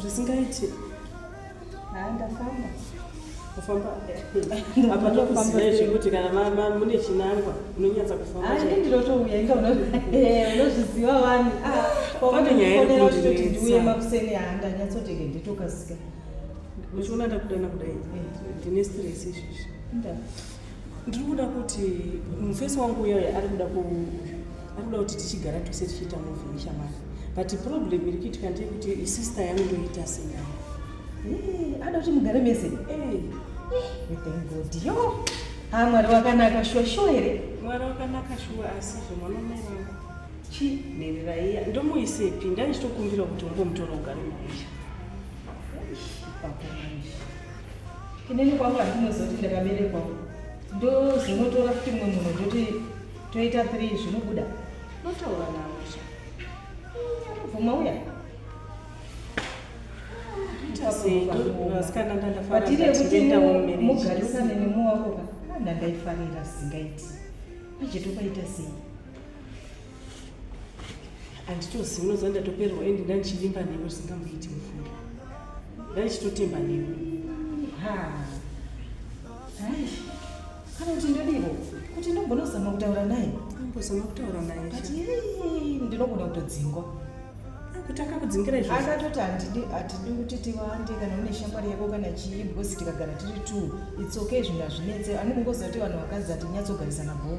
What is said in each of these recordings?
zvisingaiti haa ndafamba kufamba apa tokuziva zvekuti kana mune chinangwa unonyatsa kufambaii ndinotouya inga unozviziva wani ndiuye makuseni haa ndanyatsotenge nditokasika uchiona ndakudana kudai ndine stress izvizvi ndiri kuda kuti mufesi wangu uyoyo ari kuda ari kuda kuti tichigara tose tichiita muvi neshamwari but problem iri kuitika ndeye kuti isister yangu ndoita sei eh, ada kuti mugare mese eh, eh, yo ha ah, mwari wakanaka shuwa shuwa here mwari wakanaka shuwa asi zvemwana mai vangu chi nhereraiya ndomuisepi ndaichitokumbira kuti ungomutora ugare maisha inini kwangu handinozoti ndakaberekwa ndozonotora kuti mumwe munhu ndoti toita three zvinobuda notaura navo sha bvuma uya patiri yekuti mugarisane nemuwako ka ndandaifarira singaiti achitopaita sei handitozi unoziva ndatoperwa endi ndandichivimba newe zvisingamboiti mufunga ndandichitotemba newe kana kuti ndodivo kuti ndogona kuzama kutaura naye ambozama kutaura naye ndinogona kutodzingwa kuti akakudzingira izvo akatoti handidi hatidi kuti tiwande kana une shamwari yako kana chii because tikagara tiri two it's okay zvinhu hazvinetse anenge ngoziva kuti vanhu vakadzi hatinyatsogarisana bhoo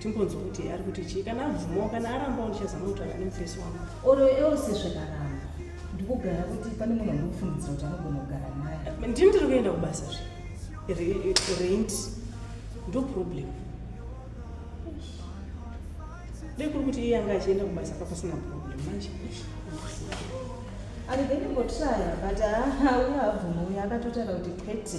timbonzwa kuti ari kuti chii kana abvumawo kana arambawo ndichazama kutaura nemufesi wangu oro else zvakaramba ndikugara kuti pane munhu andikufungidzira kuti anogona kugara naye ndini ndiri kuenda kubasa zve rent ndo problem dei kuri kuti iye anga achienda kubasa papasina problem manje andibendimbotraya but haa uya abvumo uya akatotaura kuti kwete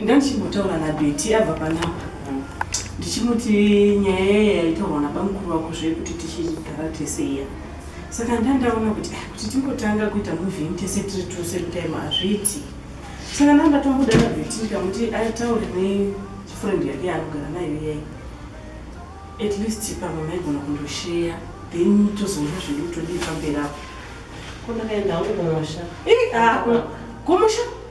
ndandichimbotaura nabeti abva panapa ndichimuti nyaya yaya yaitaurwa nabamukuru wako zvekuti tichigara tese iya saka ndandaona kuti ah, kuti timbotanga kuita moving tese tiri two same time hazviiti saka ndandatomboda nabeti ndikamuti aitaure nefriend yake yaanogara nayo iyai at least pamwe maigona kundosheya then tozonga zvedu todii pamberi apo kundakaenda hangu kumusha kumusha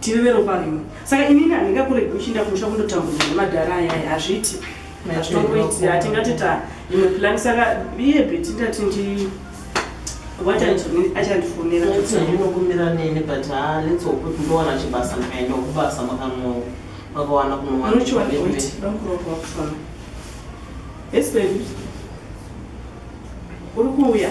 tiri veropa rimwe saka inini handingakuregi uchinda kumusha kundotambudzwa nemadhara ayaya hazviti hatongoiti hatingatita imwe plani saka iye beti ndati ndi achandifonera ndinokumbira nini but ha ah, let's hope kuti ndowana chibasa ndikaenda kubasa makanowo makawana kunowanaakuroakufanaa uri kuuya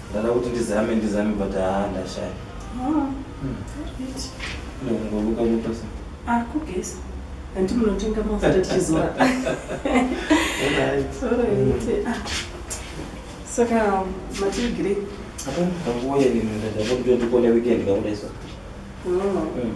Ndada kuti ndizame ndizame but haa ndashaya. Oh. Hmm. No, ngomuka mutasa. Ah, kugeza. Hanti munotenga mafuta tichizora. Alright. Alright. Hmm. Ah. Saka matigiri. Apa nguwa yenini ndadakutoti kone weekend kakudaisa. Oh. Hmm.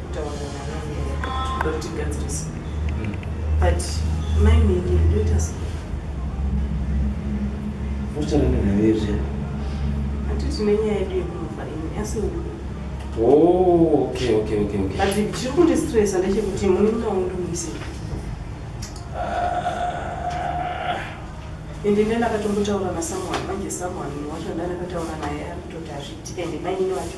zvinondistresa ndechekuti mune munaundumisi ah. ende ndena akatombotaura nasamuhani manje samuhani wacho ndanakataura naye arikutoti hazviiti ende mainini wacho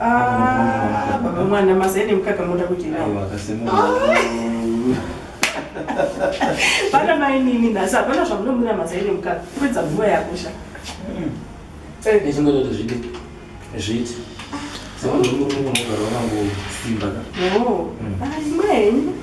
Ah, baba mwana mazai nemukaka moda kudira vana mai nini nhasi hapana zvamunomwira mazai nemukaka kupedza nguva yakosha ndichingototo zvidi zviti saka ndimurungu unogara wakangosimba ka imwe henyu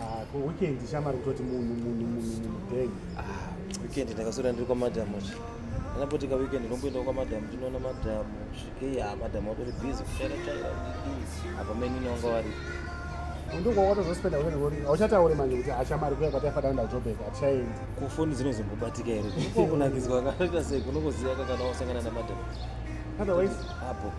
Ah, ko weekend shamari kutoti munhu munhu munhu munhu bag. Ah, weekend ndakaswera ndiri kwamadam uchi. Anapoti ka weekend ndomboenda kwamadam ndinoona madam svikei ha ah, madam watori busy kuchaira chaira ndidii apa menini wanga vari. Ndongo watozospenda weekend ngori auchataure manje kuti ashamari ah, kuya kwati afa daunda Joburg atichaendi. Kufoni dzinozombobatika here? Ko kunakidzwa kakaita sei kunongoziva kana wasangana namadam. Otherwise apo.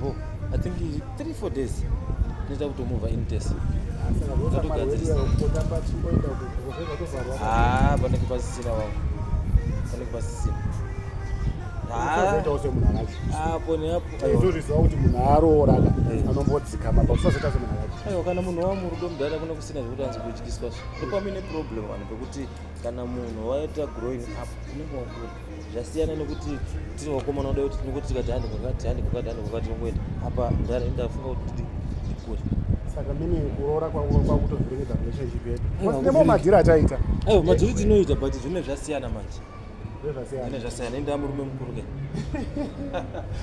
bo i think 3 4 days tinoita kutomova in test ah, panenge pasisina wangu panenge pasisina apo neapoizoriziva kuti munhu aarooraka eh. anombodzikama pakusazoita semunhu akachi aiwa kana munhu wamurudo mudhara kuna kusina zvekuti anzi kudyiswa zvo ndopamine problem vanhu pekuti kana munhu waita growing up unenge wakura zvasiyana nekuti tiri vakomana kudai kuti tinongoti tikati handi kwakati handi kwakati handi kwakati tinongoenda apa ndafunga kuti ndikure saka mini kuroora kwakutozviringidza relationship yedu nemo madhiri ataita aiwa madhiri tinoita but zvine zvasiyana manje ane zvasiyana indaa murume mukuru ke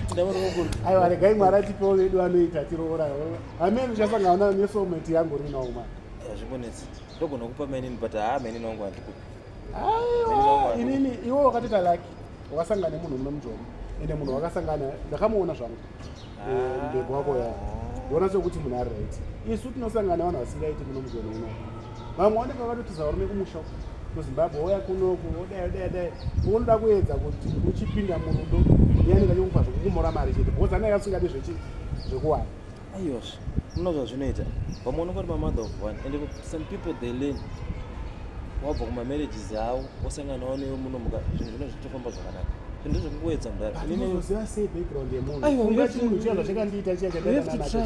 indaa murume mukuru aiwa regai mwari atipewo vedu anoita tiroora amene ndichasangaona nesoulmate yangu rinawo mani zvibonetsi ndogona kupa mainini but haa mainini wangu handikupi aiwa inini iwe wakatoita laki wakasangana nemunhu mune mujomo ende munhu wakasangana ndakamuona zvangu ah. eh, ndego wako ya ndiona sekuti munhu ari right isu tinosangana vanhu vasingaiti muno mujomo uno vamwe vanenge vakatotiza varume kumusha muzimbabwe oya kunoku odayodaidai unoda kuedza kuti uchipinda murudo iyanenge achikupa zvekukumora mari chete because anenge asingadi zvekuwana Ayos, muna zvazvinoita. Vamwe unongori ma mother of one and some people they learn wabva kuma marriages awo osanganawo newe muno muka zvinhu zvino zvichitofamba zvakanaka zvinhu zvekungoedza mudhara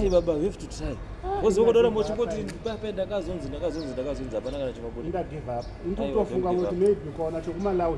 baba we have to try woziva kudora mochingoti pape ndakazonzi ndakazonzi ndakazonzi hapana kana chimabudindagive up ndikutofunga kuti maybe ukaona chekumalawi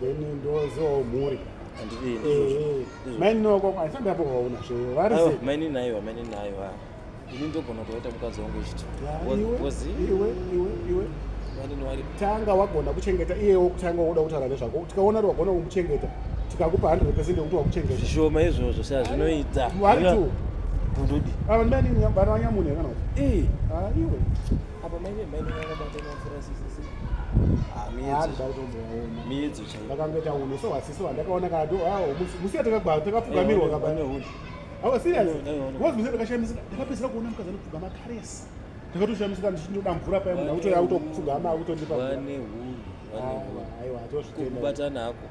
then ndozivawo mhuri mainini wako aisati apovaona zve vari mainini aiwa mainini aiwa ini ndogona kutovaita mukadzi wangu ichiti iwe iwe iwe tanga wagona kuchengeta iyewo kutanga woda kutaura nezvako tikaona kuti wagona kumuchengeta tikakupa hundred percent yekuti wakuchengeta zvishoma izvozvo sa zvinoita waritu gundudi ava ndimainini bana vanyamune kana kuti iwe apa maine maine vakabatana mvura miedzo chaioakangoita unhu so wasisi wandakaona kado musi yatakagwa takapfugamirwa kabaneuni awa serious was musi takashamisika takapedzera kuona mukadzi anopfuga makaresi takatoshamisika ndichinoda mvura paye munhu akutoya kutopfugama akutondipa aiwa atozvitenda kubatana hako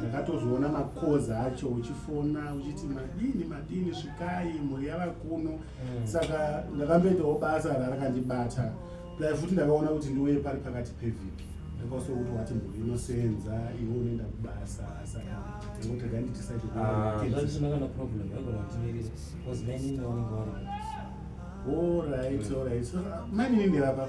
ndakatozviona makozi acho uchifona uchiti madini madini svikai mhuri yava kuno mm. saka ndakamboitawo basa rarakandibata plai futi ndakaona kuti ndiuye pari pakati pevhiki ndakausa kuti wati mhuri inosenza iwe unoenda kubasa saka ndangotega nditisaitoorit orit mainini ndirapa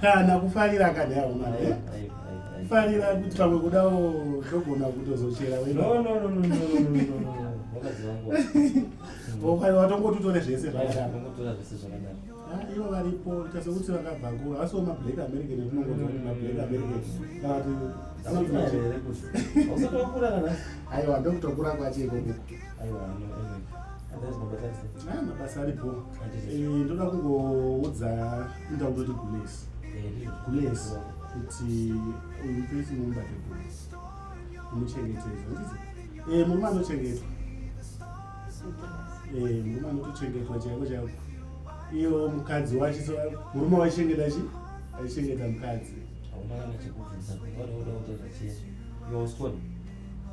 kana kufarira akadaro mari eh? kufarira kuti pamwe kudawo togona kutozochera watongoti utore zvese zvakadaro ivo varipo tasekuti vakabva kuva asi wo mablack american ekunongonzwa kuti mablack american kana kuti aiwa ndokutokura kwachekokuku aiwa ah, mabasa aripo eh, ndoda kungoudza inda kutoti gules gules kuti uipesi mumubate gules umuchengetedza ndizi eh, murume anochengetwa eh, murume anotochengetwa chaiko chaiko iyo mukadzi wacho so murume waichengeta chi aichengeta mukadzi haunaa chekubvisa varoda utozachiya yoskoni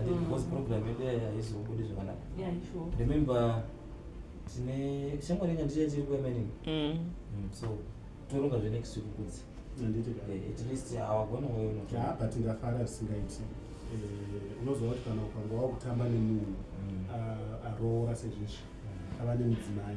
ati mm. because program yedu yayo haizobudi zvakanaka remember tine shamwari yenyu handichai tiri kuemening mm. mm, so toronga zve next week kudzi eh, at least hawagona uyo ah, but ndafara zvisingaiti eh, unoziva kuti kana ukanga wakutamba nemunhu aroora sezvizvi ava nemudzimai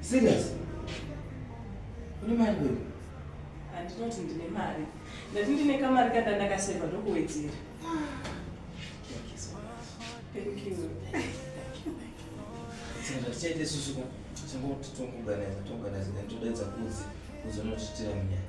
Serious? Une mari wewe? Andinoti ndine mari. Ndati ndine kamari kanda ndakaseva ndokuwedzera. Thank you. Saka tichaita isusu ka? Tingotitongoganaiza tonganaiza then todaidza kudzi kuzonotitira munyaya.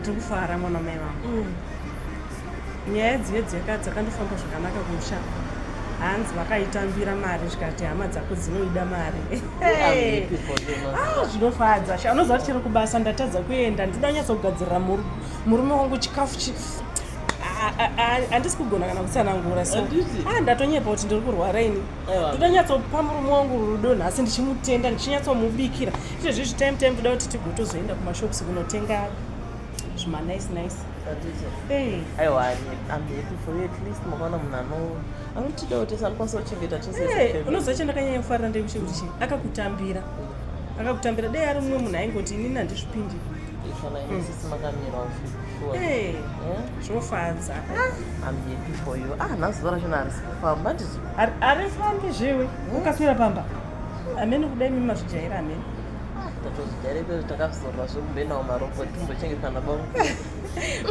ndiri kufara mwana mai vangu mm. nyaya dzive dzeka dzakandofamba zvakanaka kumusha hanzi vakaitambira mari zvikati hama dzako dzinoida mari ah, zvinofadza sha unoziva kuti chero kubasa ndatadza kuenda ndida kunyatsa kugadzirira murume wangu chikafu handisi kugona kana kutsanangura so ah, ndatonyepa kuti ndiri kurwara ini ndinonyatsopa murume wangu rudo nhasi ndichimutenda ndichinyatsomubikira ite zvi zvitime time toda kuti tigotozoenda kumashops kunotenga zvimanice nice unozocha ndakanyanya kufarira ndekuti kuti chii akakutambira akakutambira dei ari mumwe munhu aingoti inini handizvipindi Hey, zvofadza. Ah, I'm happy for you. Ah, nazuva racho naarisi kufamba handizvo. Arifambi zviwi. Hmm? Ukaswera pamba. Amene kudai mimi mazvijaira amene. Ah, Tatozvijaira ikozvo takazorwa zvekubenawo marobot timbochengetsana bongo.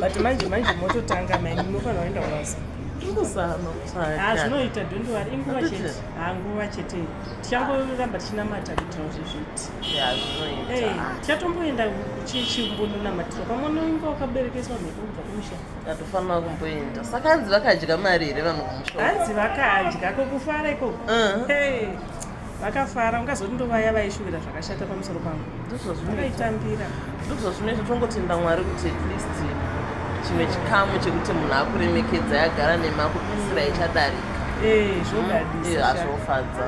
But manje manje mototanga mai munofanira kuenda kwasa. Ah, zvinoita don't worry inguva chete. Ah, nguva chete. Tichango ramba tichinamata kuitira zvizvi. chatomboenda chichimbononamatirwa pamwe unoinga wakaberekeswa mhepo kubva kumusha atofanira kumboenda saka hanzi vakadya mari here vanhu kumusha hanzi vakadya kokufara ikoko uh-huh. vakafara ungazoti ndovaya vaishuvira zvakashata pamusoro pangu ndozvazvinoitambira ndozvazvinoita tongotenda mwari kuti at least chimwe chikamu chekuti munhu akuremekedza yagara nemakupisira ichadarika eh, zvodadisa mm, eh, azvofadza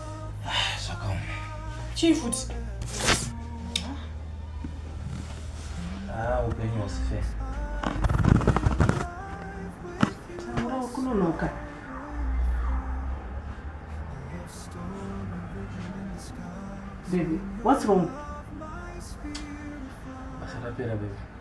Chii futi? Ah, upenyu hausi fair. Taura ukunonoka. Baby, what's wrong? Basa rapera baby.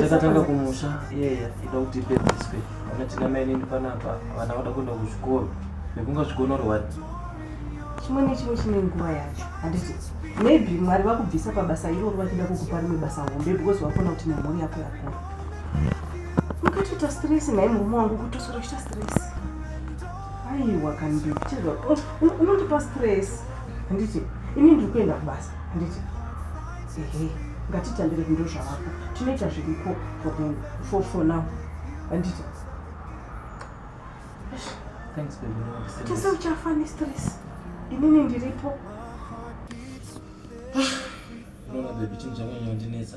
takatanga kumusha iyeye ida kuti ipedziswe ana tina mainini panapa vana vada kuenda kuzvikoro nekunga zvikonorwa chimwe nechimwe chine nguva yacho handiti maybe mwari vakubvisa pabasa iroro vachida kukupa rimwe basa hombe because vafona kuti nemhuri yako yakura mukatoita stress nhai murume wangu kutosora kuita stress aiwa kanditi chezva unondipa stress handiti ini ndiri kuenda kubasa handiti ehe ngatitambire vindo zvavako tinoita zviripo for for now handiti tese uchafa nestress inini ndiripo ah, unoona bebi chinhu chanyanya kundinetsa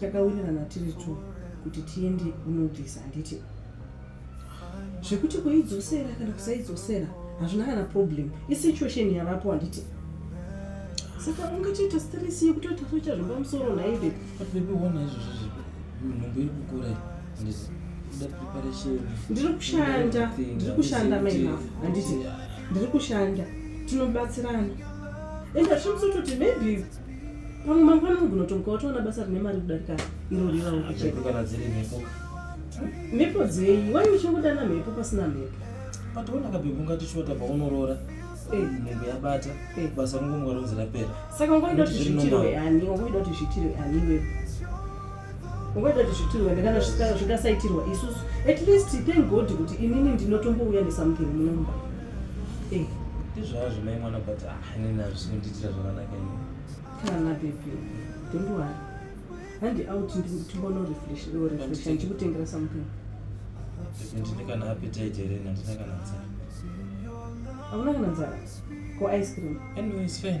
takawirirana tiri two kuti tiende kunobvisa handiti zvekuti kuidzosera kana kusaidzosera hazvina kana problem isituation yavapo handiti saka ungatoita stress yekutoita soita zvomba musoro naive atibebiona izvozvo zvipi nhumbu iri kukura ndiri kushanda ndiri kushanda maina handiti ndiri kushanda tinobatsirana and hazvimsototi maybe pamwe mangwana unogona kutomuka watoona basa rine mari kudarika iro rirawo kuchekana dziri mhepo mhepo dzei wai uchingodana mhepo pasina mhepo patoona kabhebhu ngatichota paunoroora eh. nhengo yabata eh. basa rongomwa ronzi rapera saka ungoida kuti zvitirwe ani ungoida kuti zvitirwe ani wepo ngoita kuti zvitirwa ndingana zvingasaitirwa isusu at least thank god kuti inini ndinotombouya nesomething munomba eh. ndizvazvo mai mwana but ah, inini azvi zvinondiitira zvakanaka ini kana bebi don't worry handi out ndimbono refresh or refresh ndichikutengera something ndine kana appetite here nandina kana nzara hauna kana nzara ko ice cream anyway it's fine